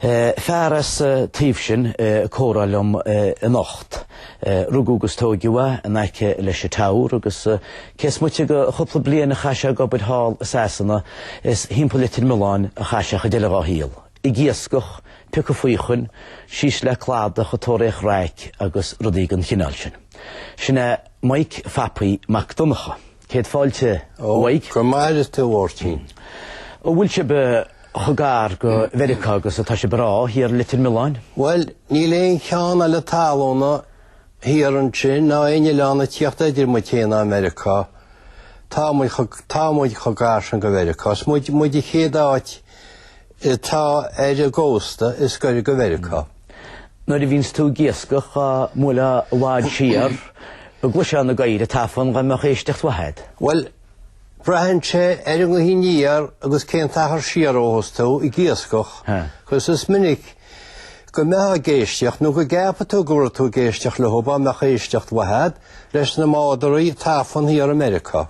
Fear as an taobh sin ag comhrá liom anocht. Rugadh agus tóigeadh é in aice leis an Tower agus cé is moite de chúpla bliain a chaith sé ag obair thall i Sasana is thimpeall Litir Mealláin a chaith sé an chuid eile dhá shaol. Ag iascach, ag piocadh faochain, síos le cladach ag tóraíocht raic agus rudaí den chineál sin. Sin é Mike Phapaí Mac Donnchadha. Céad fáilte, a Mhike. Go maire tú, a Mháirtín. An bhfuil sibh chomh gar go Mheiriceá agus atá sibh ag rá thiar i Leitir Mealláin? Bhuel, níl aon cheo eile talúna siar ansin ná aon oileán ag tíocht idir muid féin agus Meiriceá. Tá muid chomh gar sin go Mheiriceá. Is muid an chéad áit atá ar an gcósta is gaire go Mheiriceá. Nuair a bhíonns tú ag iascach amuigh i bhfad siar, go gcloisfeá na gadhair ag tafann, dá mbeadh éisteacht mhaith agat. Bhuel, braitheann sé ar an ngaoth aniar agus cén t-achar siar ó thosnaigh tú ag iascach, agus is minic go mbeifeá ag éisteacht nó go gceapfadh tú go raibh tú ag éisteacht leo dá mbeadh éisteacht mhaith agat leis na mádaraí ag tafann thiar i Meiriceá.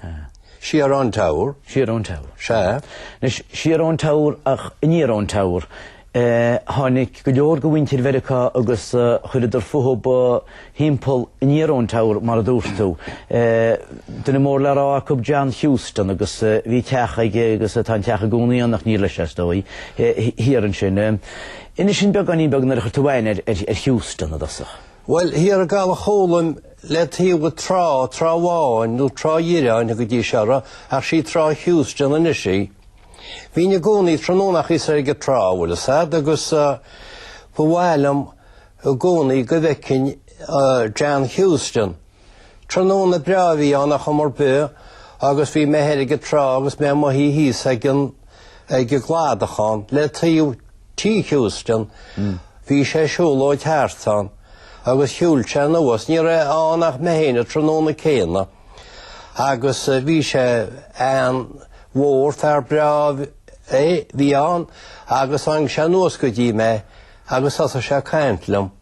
Siar ón Tower. Siar ón Tower. Sea. Anois, siar ón Tower ach aniar ón Tower, eh, tháinig go leor de mhuintir Mheiriceá agus eh, chuireadar fúthu thimpeall aniar ón Tower, mar a dúirt tú. Eh, duine mór le rá acu John Houston agus bhí teach aige agus tá an teach i gcónaí ann ach ní leis é ar ndóigh, thiar ansin. Inis dúinn beagáinín beag nuair a chuir tú aithne ar Houston i dtosach. Well, thiar ag Caladh Chólaim le taobh an trá, Trá Bháin nó Trá Dhíreáin a thugtaí siar uirthi, ach sí Trá Heuston anois í. Bhínn i gcónaí tráthnónachaí soir ag an trá, bhfuil 'fhios a'd, agus ba mhaith liom i gcónaí go bhfeicfinn John Heuston. Tráthnóna breá a bhí ann a chuma ar bith agus bhí mé thoir ag an trá agus mé i mo shuí thíos ag an gcladach ann le taobh Tigh Houston. Bhí sé ag siúlóid thart ann agus shiúil sé anuas, ní raibh ann ach mé féin an tráthnóna céanna agus bhí sé an-mhór, fear breá a bhí ann agus tháinig sé anuas go dtí mé agus thosaigh sé ag caint liom.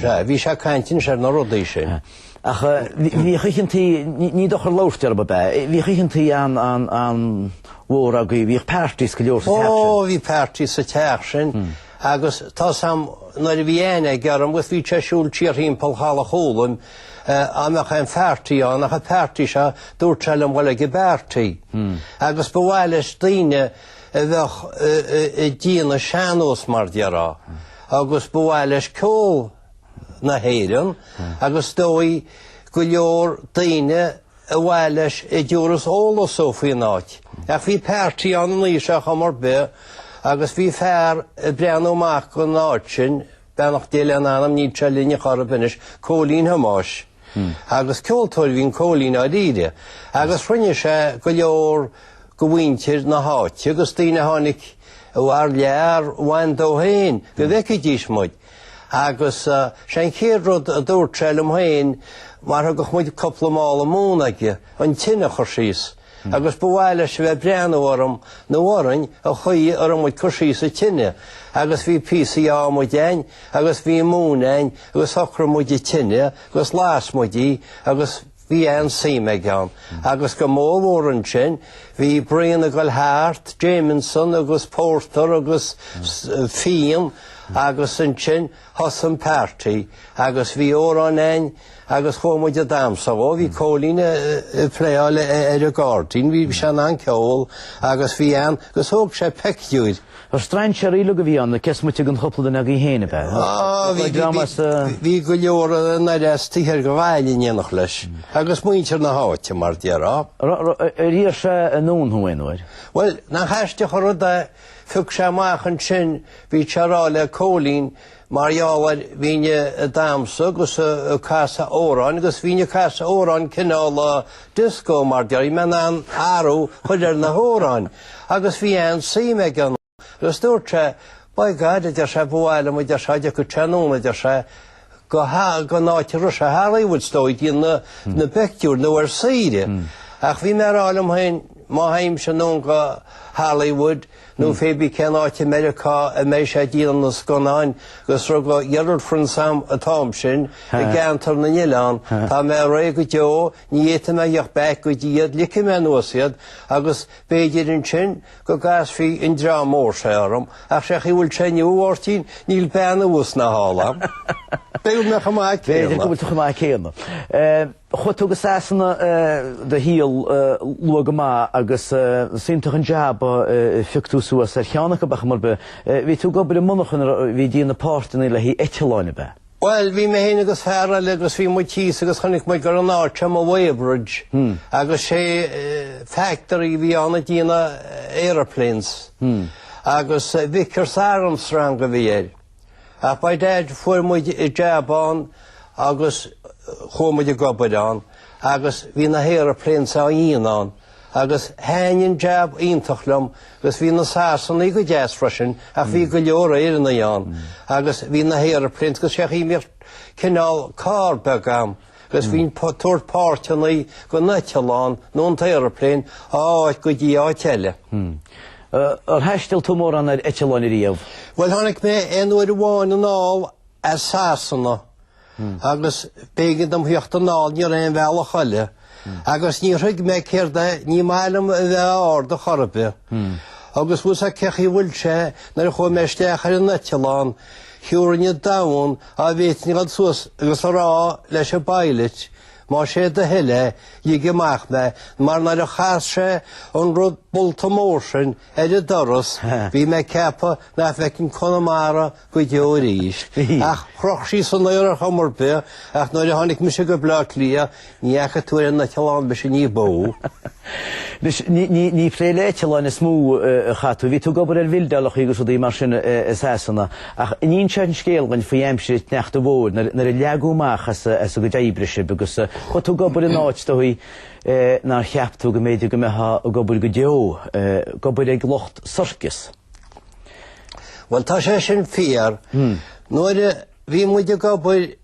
Sea, bhí tú ag caint anois ar na rudaí sin. Ach bhí oícheantaí, ní dochar labhairt air, ab ea? Bhí oícheantaí an-mhór agaibh, bhíodh parties go leor sa teach sin. Ó, bhí party sa teach sin agus tá 'fhios a'm, nuair a bhí aithne agam air agus bhí sé ag siúl siar thimpeall Chaladh Chólaim, dá mbeadh aon pharty ann ach an party seo, dúirt sé liom a ghoil ag an bparty agus ba mhaith leis daoine a bheadh ag déanamh sean-nós, mar déarfá. agus ba mhaith leis ceol na hÉireann agus dóigh go leor daoine ba mhaith leis a thabharfas eolas dó faoin áit. Ach bhí páirtí ann an oíche seo ar chuma ar bith agus bhí fear ag breathnú amach don áit sin, beannacht Dé lena anam, níl sé linn ach oiread anois, Cóilín Thomáis. agus ceoltóir a bhí in Cóilín dáiríre agus chruinnigh sé go leor de mhuintir na háite agus daoine a tháinig thar lear a bhain dó féin go bhfeicfidís muid agus sé an chéad rud a dúirt sé liom féin mar thugadh muid cúpla mála móna aige an tine a chur síos agus ba mhaith leis a bheith ag breathnú orm nó orainn an chaoi a raibh muid ag cur síos an tine agus bhí píosaí ádhmaid againn agus bhí móin againn agus shocraigh muid an tine agus las muid í agus bhí an-suim aige ann. Agus go mór mhór ansin bhí braon ag goil thart, Jameson agus pórtar agus fíon agus ansin Thosaigh an páirtí agus bhí amhráin againn agus chuaigh muid ag damhsa dhó. Bhí Cóilín ag pléáil ar an gcáirdín. Bhí sean an ceol agus bhí an agus thóg sé peictiúir. Ar strainséirí uilig a bhí ann, cés moite den chúpla duine agaibh féin, ab ea? Ó, bhí, bhí, bhí go leor nár as tithe ar go bhfail in éineacht leis. Agus muintir na háite, mar déarfá. Ar, ar, ar iarr sé anonn thú aon uair? Bhuel, nach aisteach an rud é. Phioc sé amach ansin, bhí sé ag rá le Cóilín, mar gheall air, bhínn ag damhsa agus ag casadh amhráin agus bhínn ag casadh amhráin cineál disco mar a déarfaidh mé, na an athrú a chur ar na hamhráin agus bhí an-suim aige ann. Agus dúirt sé, By God, a deir sé, ba mhaith liom, a deir sé, dá dtiocfadh tú anonn, a deir sé, go don áit a raibh sé i Hollywood is dóigh ag déanamh na bpictiúr nó ar saoire. Ach bhí mé ag rá liom féin má théimse anonn go Hollywood nó fébí cén áit i Meiriceá a mbeidh sé ag déanamh na scannáin agus a raibh de girlfriends a'm an t-am sin i gCeantar na nOileán tá mé réidh go deo Ní fhéadfaidh mé a theacht back go dtí iad, ligfidh mé anuas iad agus b'fhéidir ansin go gcasfaidh an dream mór seo orm, ach sé chaoi a bhfuil sé inniu, a Mháirtín, níl bean abhus ná thall a'm. B'fhéidir mé chomh maith céanna. B'fhéidir go bhfuil tú chomh maith céanna. Chuaigh tú go Sasana do shaol luath go maith agus is iontach an jab a phioc tú suas, ar cheann acu, ar chuma ar bith. Bhí tú ag obair i monarchan a bhí ag déanamh na páirteanna le haghaidh eitleáin, ab ea? Bhuel, bhí mé féin agus fear eile agus bhí muid thíos agus chonaic muid gur in áit ama Weybridge agus sé factory a bhí ann a dhéanadh aeroplanes agus Vickers Armstrong a bhí air. Ach by dad fuair muid jab ann agus chuaigh muid ag obair ann agus bhí na haeroplanes á ndéanamh ann. Agus thaitnigh an jab iontach liom agus bhí na Sasanaigh go deas freisin ach bhí go leor Éireannaigh ann agus bhí na haeroplanes agus sé an chaoi a mbíodh cineál carr beag agam agus bhínn ag tabhairt páirteanna don eitleán nó an t-aeroplane ó áit go dtí áit eile. Ar thaisteal tú mórán ar eitleáin riamh? Bhuel tháinig mé aon uair amháin anall as Sasana agus b'éigean dom theacht anall ní raibh aon bhealach eile, agus níor thuig mé céard é, ní maith liom a bheith ard a chor ar bith. Agus bhfuil fhios agat cén chaoi a bhfuil sé nuair a chuaigh mé isteach ar an eitleán, thiúrfainn an domhan dhá bhféadfainn a dhul suas agus a rá leis an bpilot, más é do thoil é, lig amach mé, mar nuair a chas sé an rud bolta mór sin ar an doras, bhí mé ag ceapadh nach bhfeicfinn Conamara go deo arís. Ach chroch sí san aer ar chuma ar bith, ach nuair a tháinig mise go Bleá Cliath, ní fhaca tú ar an eitleán mise ní ba mhó. Ní ag plé le eitleáin is mó a chaith tú, bhí tú ag obair ar bhildeálacha agus rudaí mar sin i Sasana. Ach an inseofá an scéal dhúinn faoi aimsir an tsneachta mhóir, nuair a leagadh amach as a gcuid oibre sibh agus chuaigh tú ag obair in áit, is dóigh, nár cheap tú go mb'fhéidir go mbeifeá ag obair go deo, ag obair ag lucht circus. Bhuel, tá sé sin fíor. Nuair a bhí muid ag obair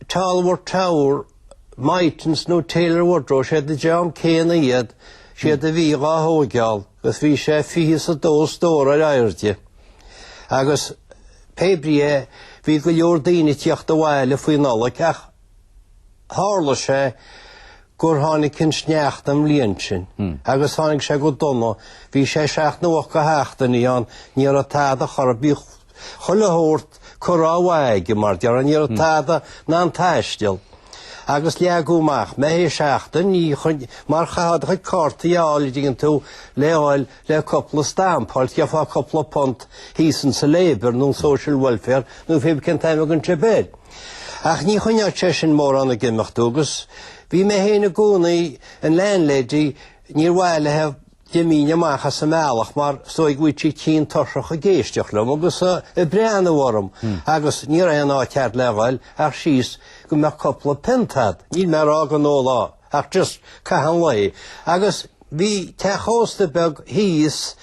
Tolworth Tower, Mytons nó Taylor Woodrow, siad an dream céanna iad, siad a bhí dhá thóigeál agus bhí sé 22 stór ar airde. Agus, pé brí é, bhí go leor daoine ag teacht abhaile faoin Nollaig ach, Tharla sé gur tháinig an sneachta an bhliain sin, agus tháinig sé go dona, bhí sé seacht nó hocht de sheachtainí ann, ní raibh tada chor ar bith, chuile shórt curtha ó mhaith aige, mar a déarfá, ní raibh tada in ann taisteal. Agus leagadh amach mé féin seachtain, mar chaithfeá do chuid cártaí a fháil an dtuigeann tú le fáil, Le cupla stampa a fháil gheofá cupla punt thíos insa Labour nó Social Welfare nó pé brí cén t-ainm a thugann sibh air. Ach ní choinneodh sé sin mórán ag imeacht thú agus bhí mé féin i gcónaí, an landlady, níorbh fhearr léi go mbeinn amach as an mbealach mar is dóigh go bhfuil sí tinn tuirseach ag éisteacht liom agus ag breathnú orm agus ní raibh aon áit cheart le dhul ach síos go mbeadh cupla pionta agat. Níl mé ag rá go n-ólfá. Ach just caitheamh an lae agus bhí teach ósta beag thíos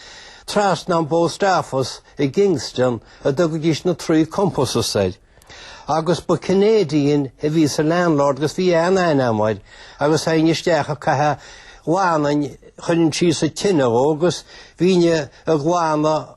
trasna ón bPost Office i gKingston a dtugaidís na Three Compasses air. Agus ba Canadian a bhí sa landlord agus bhí an-aithne agam air agus théinn isteach ag caitheamh, ghlanainn, chuirinn síos a' tine dhó agus bhínn ag glanadh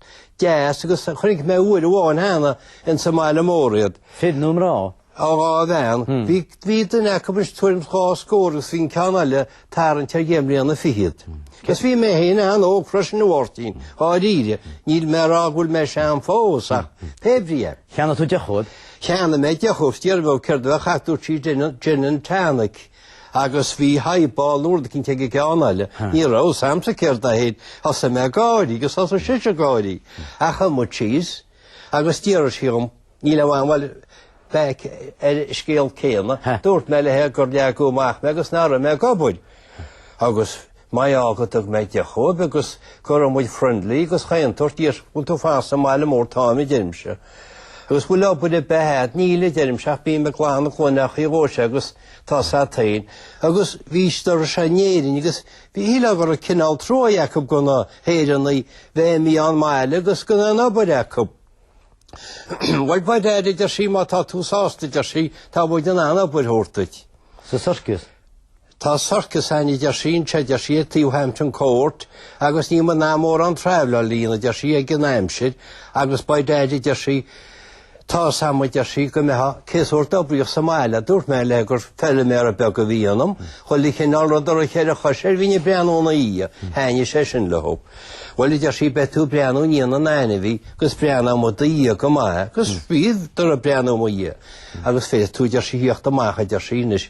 deas agus chonaic mé uair amháin cheana insa mbaile mór iad. Fir nó mná? Ó, dhá bhean. Bhí, bhí duine acu is tuairim dhá scór agus bhí an ceann eile ag tarraingt ar dheich mbliana fiche iad. Agus bhí mé féin an-óg freisin, a Mháirtín, dháiríre. Níl mé ag rá go bhfuil mé sean fós, ach pé ar bith é. Cheannaigh tú deoch dóibh? Cheannaigh mé deoch dóibh, d'fhiafraigh mé céard a bheadh acu dúirt sí gin and tonic. Agus bhí highball nó rud eicínt ag an gceann eile. Ní raibh a fhios a'msa céard é féin. Thosaigh mé ag gáirí agus thosaigh sise ag gáirí. Ach shuigh muid síos. Agus d'iarr sí dhom, níl aon mhaith a bheith ar an scéal céanna. Dúirt mé léi gur leagadh amach mé agus nach raibh mé ag obair. Agus maith go dtug mé deoch dóibh agus go raibh muid friendly agus chaon tsórt a deir sí an bhfuil tú i bhfad sa mbaile mór táim a deirimse agus bhfuil obair ar bith a'd níl a deirimse ach bím ag glanadh chuile ach bhí dhóigh sé agus tá sa tsain agus bhí doras sé in Éirinn agus bhí súil agam go raibh cineál truaí acu do na hÉireannaigh bheith ag imeacht ón mbaile agus gan aon obair acu bhuel by dad a deir sí má tá tú sásta deir sí tá muid in ann obair a thabhairt duit. Sa circus? Tá circus againn, a deir sí, anseo, a deir sí, ag taobh Hampton Court agus níl muid in ann mórán travel a dhéanamh, a deir sí, ag an am seo agus by dad, a deir sí, tá 'fhios a'm, a deir sí, go mbeitheá thar cionn ag oibriú sa mbaile. a dúirt mé léi gur feiliméara beag a bhí ionam, chuile chineál rud a raibh cheithre chois air bhínn ag breathnú ina dhiaidh, thaitnigh sé sin leo. Bhuel, a deir sí, beidh tú ag breathnú i ndiaidh na n-ainmhí agus breathnóidh muid i do dhiaidh go maith, agus bhíodar ag breathnú i mo dhiaidh, agus féadfaidh tú, a deir sí, thíocht amach, a deir sí, anois,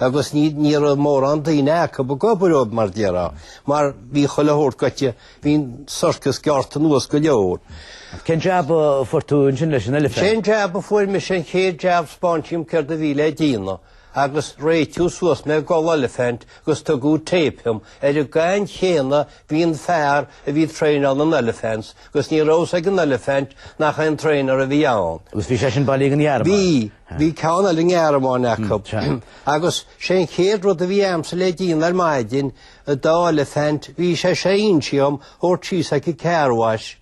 agus ní ní raibh mórán daoine acu ag obair ó mar a déarfá, mar bhí chuile shórt gaibhte, bhí an circus gearrtha anuas go leor. Cén jab a fuair tú ansin leis an elephant? Cén jab a fuair mise an chéad jab spáineadh dhom céard a bhí le déanamh agus réitíodh suas mé ag gabháil elephant agus tugadh tape dhom ar an gcaoi chéanna bhí an fear a bhí ag traenáil an elephant 'gus ní raibh a fhios ag an elephant nach an traenáir a bhí ann. Agus bhí sé sin bailithe don Ghearmáin. Bhí, bhí ceann eile ón nGearmáin acu. Agus sé an chéad rud a bhí agamsa le déanamh ar maidin, an dá elephant, bhí sé sé in am dhom é a thabhairt síos ag an car wash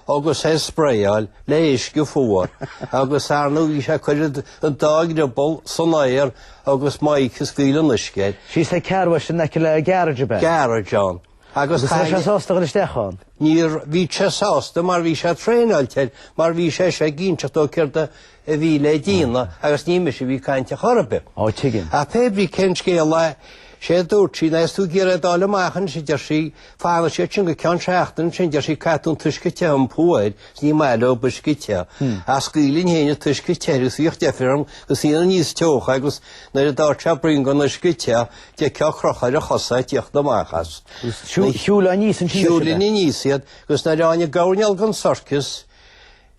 agus é a spraeáil le huisce fuar agus ar ndóigh bhí sé ag cur an dá dhrioball san aer agus mé ag scaoileadh an uisce air. Síos ag car wash in aice le garage a bheith. garage ann. Agus an raibh sé sásta dul isteach ann? Níor bhí sé sásta mar bhí sé traenáilte air mar bhí sé ag inseacht dó céard a bhí le déanamh agus ní mise a bhí ag caint ar chor ar bith. Ó tuigim. Ach pé brí cén scéal é sé a dúirt sí, ná is tú ag iarraidh é d'fháil amach anois, a deir sí, fanann siad sin go ceann seachtaine ansin, deir sí, caith tú an t-uisce te um thuaidh is ní maith leo b'uisce te. Ach scaoilinn féin an t-uisce te agus bhíodh deifir orm agus dhéanainn níos teocha agus nuair a d'fhaigheadh sé braon den uisce te d'fheicfeá ag crochadh a chosa ag tíocht amach as. Shiúlainn aníos ansin. Shiúlainn aníos iad, agus nuair a tháinig an coirnéal den sorcas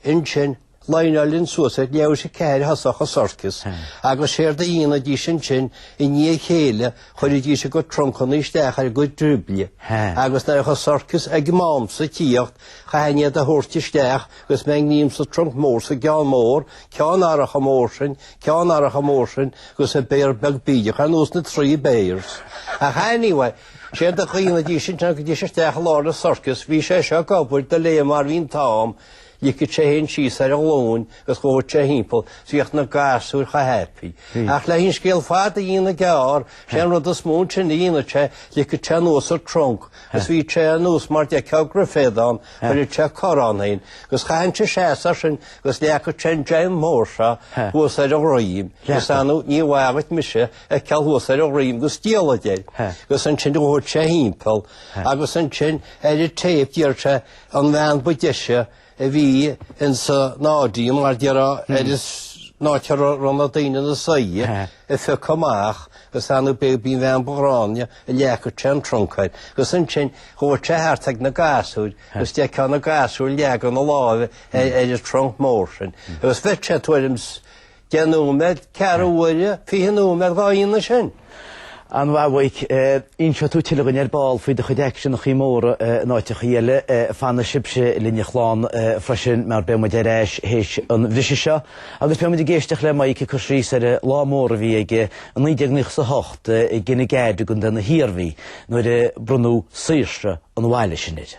ansin, líneálainn suas iad leabhair sé ceathair thosach an sorcas, agus séard a dhéanaidís ansin i ndiaidh a chéile, chuiridís a gcuid truncanna isteach ar a gcuid driobaill, agus nuair a bheadh an sorcas ag m'amsa ag tíocht, chaithfinn iad a thabhairt isteach agus mé i ngreim sa trunc mór, sa gceann mór, ceann nach raibh chomh mór sin, ceann nach raibh chomh mór sin agus an béar beag bídeach ar nós na trí bears. Ach anyway, séard a dhéanaidís ansin thagaidís isteach i lár na sorcas, bhí sé seo ag obair de réir mar bhí an t-am, ligeadh sé é fhéin síos ar a ghlúin agus ghabhadh sé thimpeall is bhíodh na gasúir chomh happy. Ach leis an scéal fada a dhéanamh gearr, sé an rud is mó ansin a dhéanadh sé, ligeadh sé anuas a trunc agus bhí sé anuas mar d'fheicfeá go raibh feadán, chuireadh sé cor ann fhéin agus chaithfinnse seasamh air sin, Agus leagfadh sé an dream mór seo thuas ar a dhroim. Is ar ndóigh ní bhfaighfí mise fheiceáil thuas ar a dhroim go stíolfaid air. Agus ansin ghabhadh sé thimpeall. Agus ansin ar an téip d'iarr sé an bhean ba deise a bhí insan audience mar déarfá an áit a raibh na daoine ina suí a phiocadh amach. Is ar ndóigh b'í an bhean ba ghráinne a leagfadh sé an trunc air. Agus ansin ghabhadh sé thart ag na gasúir agus d'fheicfeá na gasúir ag leagan a láimhe ar an trunc mór sin agus bheadh sé tuairim is deich nóiméad, ceathrú uaire, fiche nóiméad dhá dhéanamh sin. An-mhaith a Mhaidhc inseoidh tú tuilleadh dúinn ar ball faoi do chuid aicseanacha móra in áiteacha eile? Fanfaidh sibhse linn a chlann freisin mar beidh muid ar ais théis an bhriseadh seo agus beidh muid ag éisteacht le Mike ag cur síos ar an lá mór a bhí aige i 1998 i gCionn Átha Gad i gContae na hIarmhí nuair a bronnadh saoirse an bhaile sin air.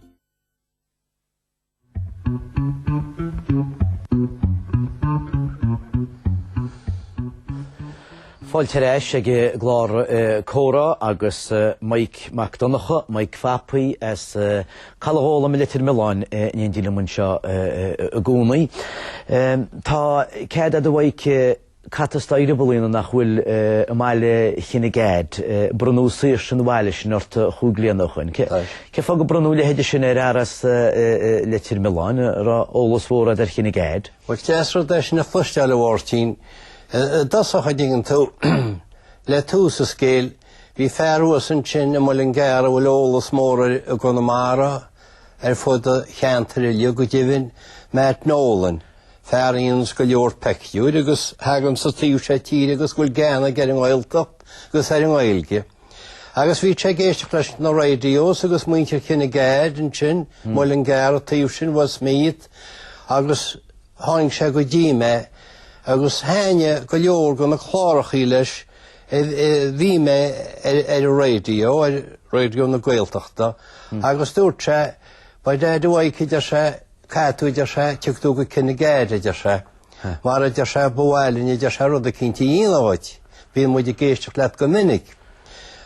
Fáilte ar ais ag clár Comhrá agus Mike Mac Donncha, Mike Phapaí as Caladh Ghólaim i Leitir Mealláin in éindí liom anseo i gcónaí. Tá cead a'd a Mhaidhc Cathair i Ribealáí nach bhfuil i mBaile Chine Gad. Bronnadh saoirse an bhaile sin ort chúig bhliana ó shoin. Cén fáth gur bronnadh a leithéid sin ar fhear as Leitir Mealláin? An raibh eolas mór agat ar Chinnegad? Is deas rud é sin a chloisteáil a Mháirtín. I dtosach, an dtuigeann tú, le tús an scéil, bhí fear thuas ansin i Muileann gCearr a bhfuil eolas mór air i gConamara, ar fud an cheantair uilig go deimhin, Matt Nolan. Fear a dhéananns go leor peictiúir agus a thagann sa taobh seo tíre agus a bhfuil gean aige ar an nGaeltacht agus ar an nGaeilge. Agus bhí sé ag éisteacht leis na radios agus muintir Kinnegad ansin, hmm. Muileann gCearr, an taobh sin Westmeath agus tháinig sé go dtí mé agus thaithin go leor de na clárachaí leis bhí mé ar an radio ar radio na Gaeltachta hmm. agus dúirt sé by dad a deir sé Caithfidh tú, a deir sé, tiocfaidh tú go Kinnegad, a deir sé, mar, a deir sé, ba mhaith linn, a deir sé, rud eicínt a dhéanamh dhuit. Bíonn muid ag éisteacht leat go minic.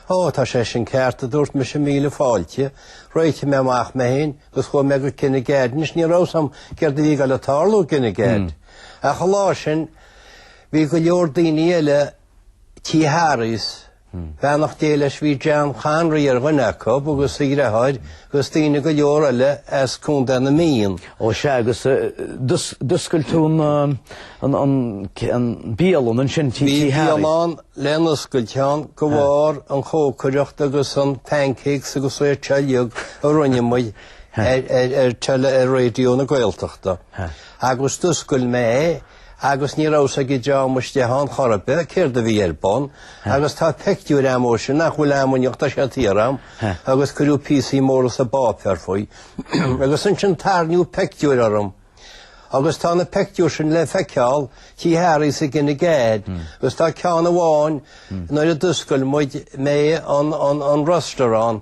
Ó, tá sé sin ceart, a dúirt mise, míle fáilte. Réitigh mé amach mé féin agus chuaigh mé go Kinnegad. Anois, ní raibh a fhios a'm céard a bhí ag goil ag tarlú i gCinnegad. Ach an lá sin bhí go leor daoine eile Tigh Harry's, Beannacht Dé leis bhí Jean Conry ar dhuine acu agus a dhreatháir agus daoine go leor eile as Contae na Mí ann. Ó sea agus d'oscail tú an bialann ansin tigh Harry's. Bhí bialann le n-oscailt ann de bharr an chócaireacht agus an pancakes agus sórt uilig a rinne muid ar teili, ar Raidió na Gaeltachta. Agus d'oscail mé é. agus ní raibh a fhios ag an dream istigh ann chor ar bith céard a bhí ar bun agus tá pictiúir agam ó shin nach bhfuil agam inniu ach tá sé thiar agam, agus cuireadh píosaí móra sa bpáipéar faoi agus ansin tairníodh pictiúir orm agus tá na pictiúir sin le feiceáil tigh Harry's i gCinnegad agus tá ceann amháin nuair a d'oscail muid, mé an restaurant.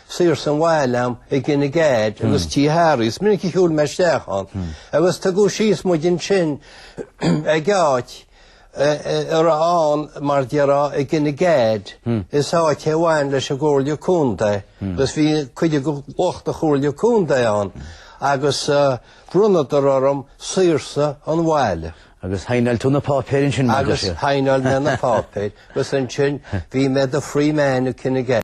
saoirse an bhaile a'm i gCinnegad agus tigh Harry's. Is minic a shiúil mé isteach ann agus tugadh síos muid ansin ag áit a raibh ann, mar a déarfá, i gCinnegad. Is áit é a bhain leis an gComhairle Contae agus bhí cuid de lucht an Chomhairle Contae ann agus bhronnadar orm saoirse an bhaile. Agus shaighneáil tú na páipéir ansin, mar a déarfá. Agus shaighneáil mé na páipéir agus ansin bhí mé i mo free man i gCinnegad.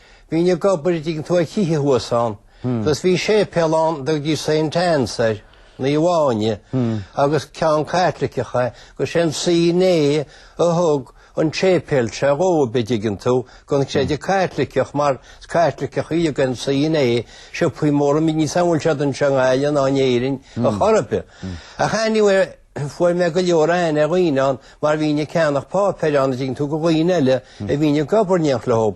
Bhínn ag obair a' dtuigeann tú, ar thithe thuas ann agus bhí séipéal ann a dtugtaí Saint Anne's air, Naomh Áine, agus ceann Caitliceach é agus sé an C&A a thug an tséipéal seo dhóib, a' dtuigeann tú, gon chreideamh Caitliceach mar is Caitliceachaí iad an C&A, siopaí móra, níl a fhios a'm an bhfuil siad anseo i nGaillimh ná in Éirinn a' chor a' bith. Ach anyway, Fuair mé go leor aithne ar dhaoine ann mar bhínn ag ceannach páipéir ann, a dtuigeann tú, go dhaoine eile a bhínn ag obair in éineacht leo.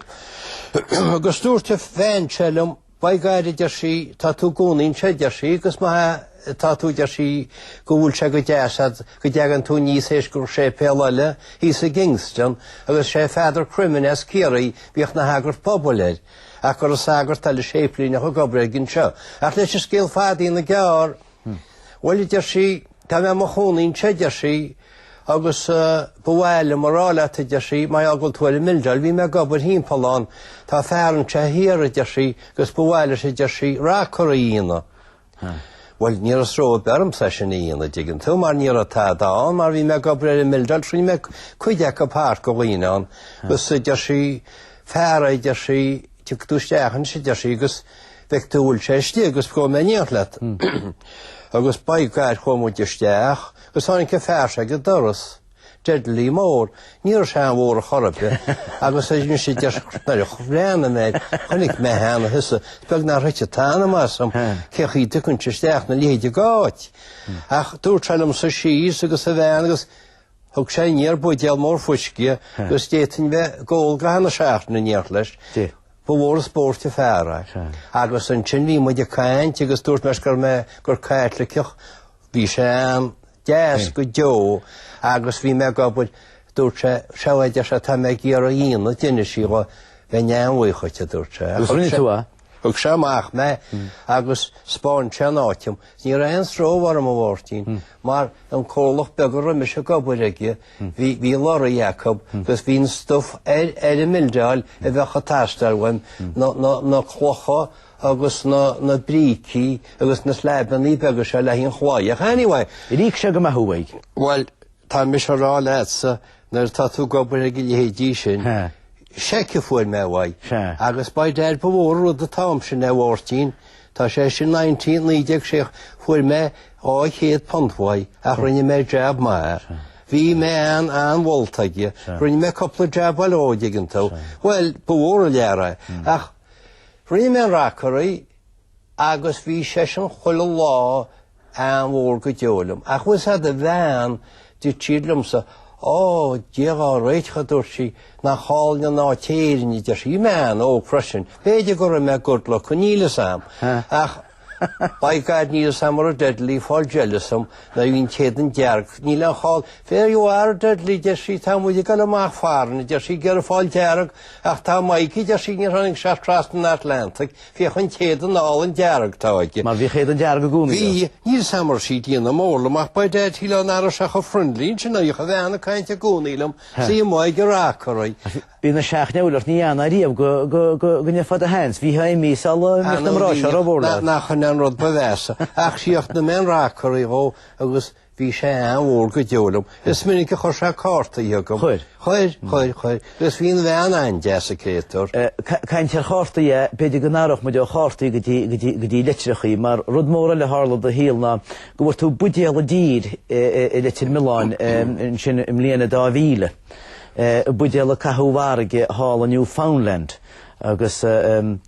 Agus dúirt an bhean seo liom, By God, a deir sí, tá tú i gcónaí anseo, a deir sí, agus má tá tú, a deir sí, go bhfuil sé go deas agat, go dtagann tú aníos théis go raibh séipéal eile thíos i gKingston, agus sé Father Crimmins as Ciarraí, bhíodh ina shagart pobail air, ach go raibh an sagart eile séiplíneach ag obair aige anseo. Ach leis an scéal fada a dhéanamh gearr, Bhuel, a deir sí, tá mé i mo chónaí anseo, a deir sí, agus ba mhaith liom a rá leat, a deir sí, mar gheall go bhfuil tú ar an mbildeáil, bhí mé ag obair thimpeall ann, tá fear anseo thiar, a deir sí, agus ba mhaith leis, a deir sí, rockery a dhéanamh. Bhuel, ní raibh stró ar bith ormsa é sin a dhéanamh, a dtuigeann tú, mar ní raibh tada ann, mar bhí mé ag obair ar an mbildeáil, rinne mé cuid acu thart go dhaoine ann, agus a deir sí, fear é, a deir sí, Tiocfaidh tú isteach ansin, a deir sí, agus feicfidh tú an bhfuil sé istigh agus gabhfaidh mé in éineacht leat. Agus by gor chuaigh muid isteach agus tháinig an fear seo ag an doras, Dudley Moore, ní raibh sé an-mhór ar chor ar bith, agus a rinne sé deis nuair a bhreathnaigh mé air, chonaic mé cheana, a thusa, is beag nár thuit an t-anam asam, cén chaoi a dtiocfainn isteach ina leithéidí d'áit. Ach dúirt sé liom suí síos agus a bhean agus Thug sé aniar buidéal mór fuisce agus d'fhéadfainn bheith ag ól go ceann seachtaine in éineacht leis. Ba mhór an spóirt an fear é. Agus ansin bhí muid ag caint agus dúirt mé leis go raibh mé, gur Caitliceach, bhí sé an-deas go deo agus bhí mé ag obair, dúirt sé, sea, a deir sé, tá mé ag iarraidh é a dhéanamh, d'inis sí dho, bheinn an-bhuíoch dhuit, a dúirt sé. Agus rinne tú é? Thug sé amach mé agus spáin sé an áit liom. Ní raibh aon stró orm, a Mháirtín, mar an comhlacht beag a raibh mise ag obair aige, bhí, bhí leoraí acu agus bhí an stuif ar, ar an mbildeáil a bheadh ag teastáil uaim, na, na, na clocha agus na, na brící agus na sleaibeannaí beaga seo le haghaidh an chlaí. Anyway. Ar íoc sé go maith thú? Bhuel, Tá mise a rá leatsa, nuair atá tú ag obair ag a leithéidí sin, seic a fuair mé uaidh, agus by dad ba mhór an rud an t-am sin é, a Mháirtín, tá sé sin 19 1960, fuair mé £200 uaidh, ach rinne mé jab maith air. Bhí mé an an-mholta aige. Rinne mé cúpla jab eile dhó, a dtuigeann tú. Bhuel, ba mhór an lear é. Ach rinne mé an rockery, agus bhí seisean chuile lá, an-mhór go deo liom. Ach bhfuil 'fhios a'd, a bhean, dúirt sí liomsa, Ó, Dia dhá réiteach, a dúirt sí, nach álainn an áit Éirinn, a deir sí. Bhí mé an-óg freisin. B'fhéidir go raibh mé good looking, níl 'fhios a'm. Ach, by God, níl 'fhios a'm mura raibh Dudley ag fáil jealous orm mar bhí an t-éadan dearg. Níl aon chall, there you are, Dudley, a deir sí, tá muid ag dul amach foreign, a deir sí, ag iarraidh fáil dearg, ach tá Mike, a deir sí, níor tháinig sé trasna an Atlantaigh, Féach an t-éadan álainn dearg atá aige. Mar bhíodh éadan dearg i gcónaí leo. Bhí, níl samar sí diana mórlam ach ba Ted Heath an ara sea chomh friendly in sin oidhche bhean ag caint i gcónaí liom, sea i mbaidh go rath corraidh. Bhí na seachneolaiocht ní ann ariamh go, go, go, go ndéarfá do hands, bhíodh a imí sa la i mbéal na mná seo ró mhór leat. Nach an an rud ba mheasa. Ach sea, ach na mbean rath corraidh dhó agus, Bhí sé an-mhór go deo liom. Is minic a chuir sé cártaí chugam. Chuir? Chuir, chuir, chuir. Is bhí an bhean an-deas an créatúr. Caint ar chártaí, b'fhéidir go n-athródh muid ó chártaí go dtí litreachaí, mar rud mór eile a tharla i do shaol ná go bhfuair tú buidéal i dtír i Leitir Mealláin ansin i mbliain a 2000, buidéal a caitheadh i bhfarraige thall i Newfoundland agus.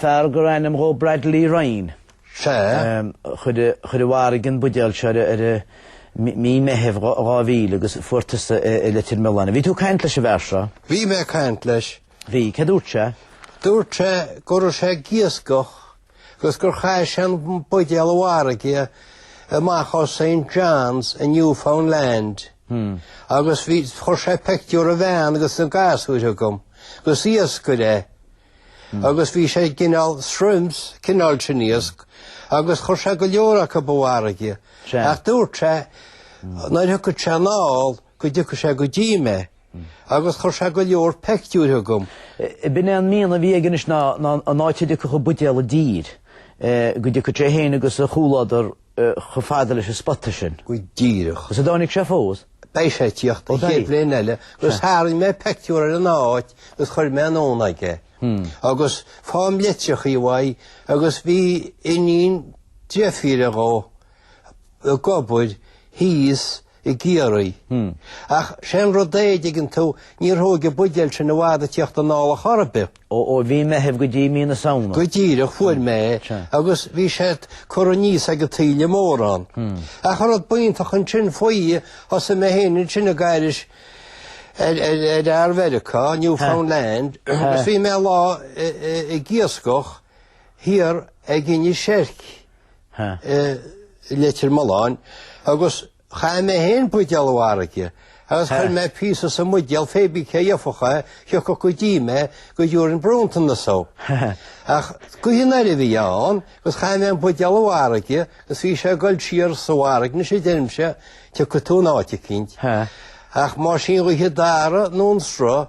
Fear gur ainm dhó Bradley Ryan. Sea. Chuir i bhfarraige an buidéal seo i mí Meithimh 2000 agus fuair tusa i Leitir Mealláin. Bhí tú ag caint leis an bhfear seo? Bhí mé ag caint leis. Bhí. Céard a dúirt sé? Dúirt sé go raibh sé ag iascach agus gur chaith sé an buidéal i bhfarraige amach ó St John's in Newfoundland agus bhí chuir sé peictiúr a bhean agus a ghasúir chugam, gus iascaire é agus bhí sé gcineál shrimps cineál sin iasc agus chuir sé go leor acub i bhfarraige. Ach dúirt sé nuair a thiocfadh sé anall go dtiocfadh sé go dtí mé agus chuir sé go leor peictiúir chugam. B'in é an mian a bhí aige anois ná an áit a dtiocfadh an buidéal i dtír, go dtiocfadh sé fhéin agus a chomhluadar chomh fada leis an spota sin. Go díreach. Is an dtáinig sé fós? Beidh sé ag tíocht an chéad bhliain eile agus tharraing mé peictiúr ar an áit agus chuir mé anonn aige. Agus faighim litreachaí uaidh agus bhí iníon deirfíre dhó ag obair thíos i gCiarraí. Ach sé an rud é, an dtuigeann tú, níor thóg an buidéal sin i bhfad ag tíocht anall chor ar bith. Ó mhí Meithimh go dtí mí na Samhna? Go díreach, fuair mé é agus bhí sé curtha aníos ag an taoille mórán. Ach an rud b'iontach ansin faoi, thosaigh mé féin ansin ag aithris ar fhear Mheiriceá, Newfoundland, agus bhí mé lá ag iascach thiar ag Inis Eirc. i Leitir Mealláin agus chaith mé féin buidéal i bhfarraige agus chuir mé píosa sa mbuidéal fé bith cé gheofadh é, thiocfadh go dtí mé go dtiúrfainn bronntanas dó. Ach gaoth anoir a bhí ann agus chaith mé an buidéal i bhfarraige agus bhí sé ag dul siar sa bhfarraige anois a deirimse, tiocfaidh tú in áit eicínt. Ach más í an ghaoth a d'athraigh nó an sruth,